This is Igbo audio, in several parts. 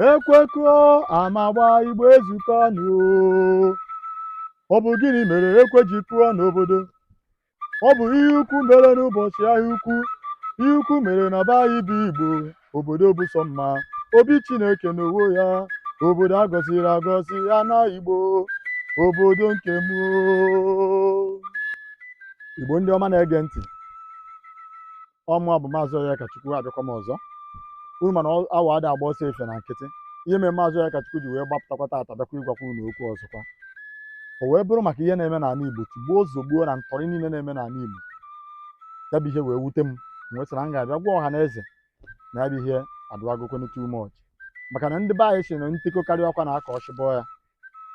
ekwe kụọ ama agbaa igbo ezukọọ nụ o ọ bụ gịnị mere ekwe ji kụọ n'obodo ọ bụ ihe ukwu mere n'ụbọchị ahịa ukwu ihe ukwu mere na be anyị bụ igbo obodo bụ sọ mma obi chineke n'onwe ya obodo a gọziri agọzi ya na igbo obodo nke m oo. igbo ndị ọma na-ege ntị ọ mụwa bụ maazị Onyekachukwu abịakwa m ọzọ unu ma na awọ ada agba ọsọ efifie na nkịtị ihe mere maazị Onyekachukwu ji wee gbapụtakwa taata bịakwa ịgwakwa unu okwu ọzọkwa o wee bụrụ maka ihe na-eme n'ala Igbo tigbuo zogbuo na ntọrị niile na-eme n'ala Igbo ya bụ ihe wee wute m m wee sị na m ga-abịa gwa ọha na eze na ya bụ ihe adụagokwenụ too much maka na ndị be anyị sị na nte kokarịa ọkwa na aka ọchịbọ ya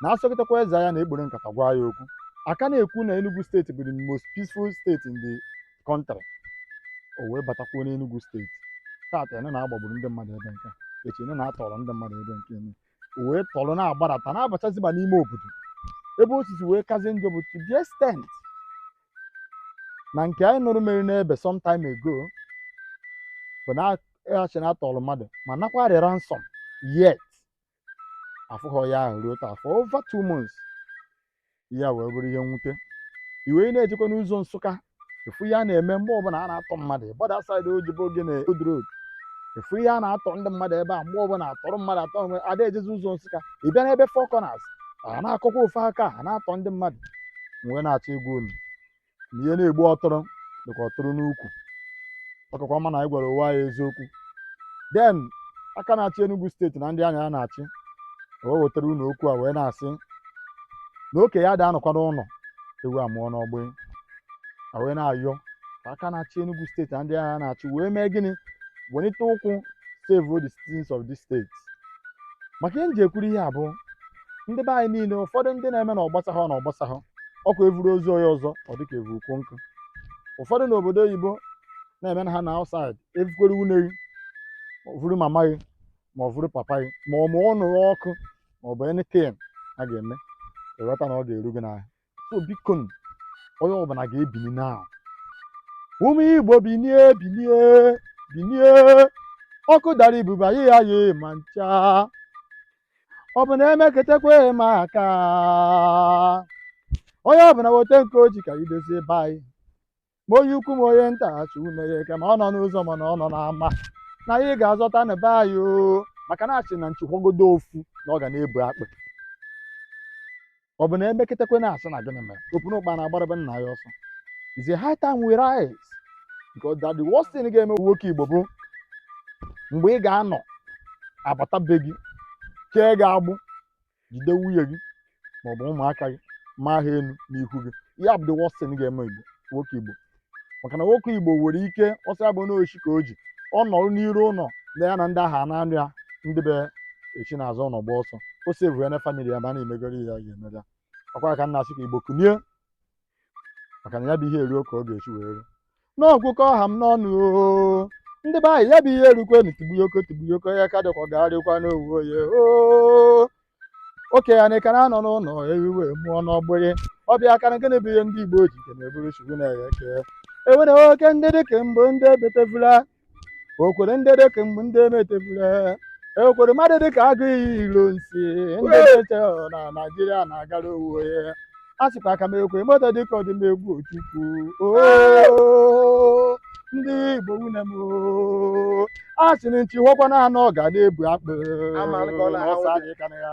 na a sọkatakwa eze anya na e kpuru nkata gwa ya okwu a ka na-ekwu na Enugu steeti bụ the most peaceful state in the country o wee batakwuo n'Enugu steeti taata ene na-agbagburu ndị mmadụ ebe nke echi ene na-atọrọ ndị mmadụ ebe nke ene o wee tọrọ na-agbadata na-abachaziba n'ime obodo ebe osisi wee kazie njọ bụ to the extent na nke anyị nụrụ mere n'ebe sometime ago bụ na achị na-atọrọ mmadụ ma nakwara ransom yet afụghọ ya ahụ ruo taa for over two months ya wee bụrụ ihe mwute iwe ị na-ejekwa n'ụzọ Nsụka ofu ihe a na-eme mgbe ọbụla a na-atọ mmadụ gbada saịdị ojibo gị na Old Road ofu ihe a na-atọ ndị mmadụ ebe a mgbe ọbụla atọrọ mmadụ atọ mgbe ada ejezi ụzọ Nsụka ị bịa n'ebe Four Corners a na-akọkwa ofu aka a na-atọ ndị mmadụ m wee na-achọ ịgwa unu na ihe na-egbu ọtụrụ dịka ọtụrụ n'ukwu ọ kakwa mma na anyị gwara onwe anyị eziokwu then aka na-achị Enugu steeti na ndị ya na ya na-achị wee wetara unu okwu a wee na-asị na okenye ada anọkwa n'ụlọ ewu amụọ n'ọgbụ a wee na-ayọ ka aka na-achị Enugu steeti na ndị ya na ya na-achị wee mee gịnị welite ụkwụ save the citizens of this state maka ihe m ji ekwuru ihe a bụ ndị be anyị niile ụfọdụ ndị na-eme na ọ gbasahọ na ọ gbasahọ ọ kwa e vuru ozu onye ọzọ ọ dịka e vu ukwu nkụ ụfọdụ n'obodo oyibo na-eme na ha nọ outside e vukwere nwunye gị ma o vuru mama gị ma o vuru papa gị ma ọ mụọ ụnọ gị ọkụ ma ọ bụ anything a ga-eme ịghọta na ọ ga-eru gị n'ahụ so biko nụ, onye ọbụla ga-ebini na ụmụ igbo binie binie binie ọkụ dara ibuba yi ya yi ma ncha ọ bụ na emeketekwa ma aka onye ọbụla weta nke o ji ka e dozie be anyị ma onye ukwu ma onye nta achụ ume ya eke ma ọ nọ n'ụzọ ma na ọ nọ n'ama na anyị ga-azọta na be anyị oo maka na a sị na nchi fọgodu ofu na ọ ga na-ebu akpụ ọ bụ na e meketekwa a na-asị na gịnị mere opu na ụkpa na-agbara be nna ya ọsọ is a high time we rise because that the worst thing ga-eme nwoke igbo bụ mgbe ị ga-anọ a bata be gị kee gị agbụ jide nwunye gị ma ọ bụ ụmụaka gị maa ha elu n'ihu gị ihe a bụ the worst thing ga-eme igbo nwoke igbo maka na nwoke igbo nwere ike ọsọ abụ n'ochi ka o ji ọ nọrọ n'iru ụlọ na ya na ndị agha na-anụ ya ndị be ya esi n'azụ ụlọ gbaa ọsọ ọ save ya na family ya mana e megoro ihe ya ga-emere ya ọ kwa ya ka m na-asị ka igbo kunie maka na ya bụ ihe eruo ka ọ ga-esi wee ruo n'ọgwụkọ ọha m n'ọnụ oo ndị be anyị ya bụ ihe erukwenu tigbuyoko tigbuyoko ya ka dịkwa gagharịkwa n'owu oye oo oke ya na ịka na-anọ n'ụlọ ewiwe mụọ n'ọgbụrị ọbịa aka na gịnị bụ ihe ndị igbo ji nke na-eburu chukwu na-eghe eke ewere oke ndị dịka mbụ ndị ebetevula okwere ndị dịka mgbe ndị emetebule ekwere mmadụ dịka aguiyi ironsi ndị na-eche na naijiria na-agara onwe ya a sịkwa ka m ekwere mmadụ dịka odumegwu ojukwu oo ndị igbo nwanne m oo. a sị na nchi fọkwa na anọ ga na-ebu akpụ Ama m ka ọ na-aha ọsọ nwoke. anyị ka na ya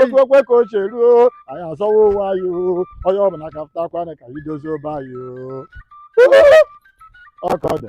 otu okwe ka o si eruo anyị azọwa onwe anyị o onye ọ bụla ka pụtakwanụ ka anyị dozie be anyị o ọ ka ọ dị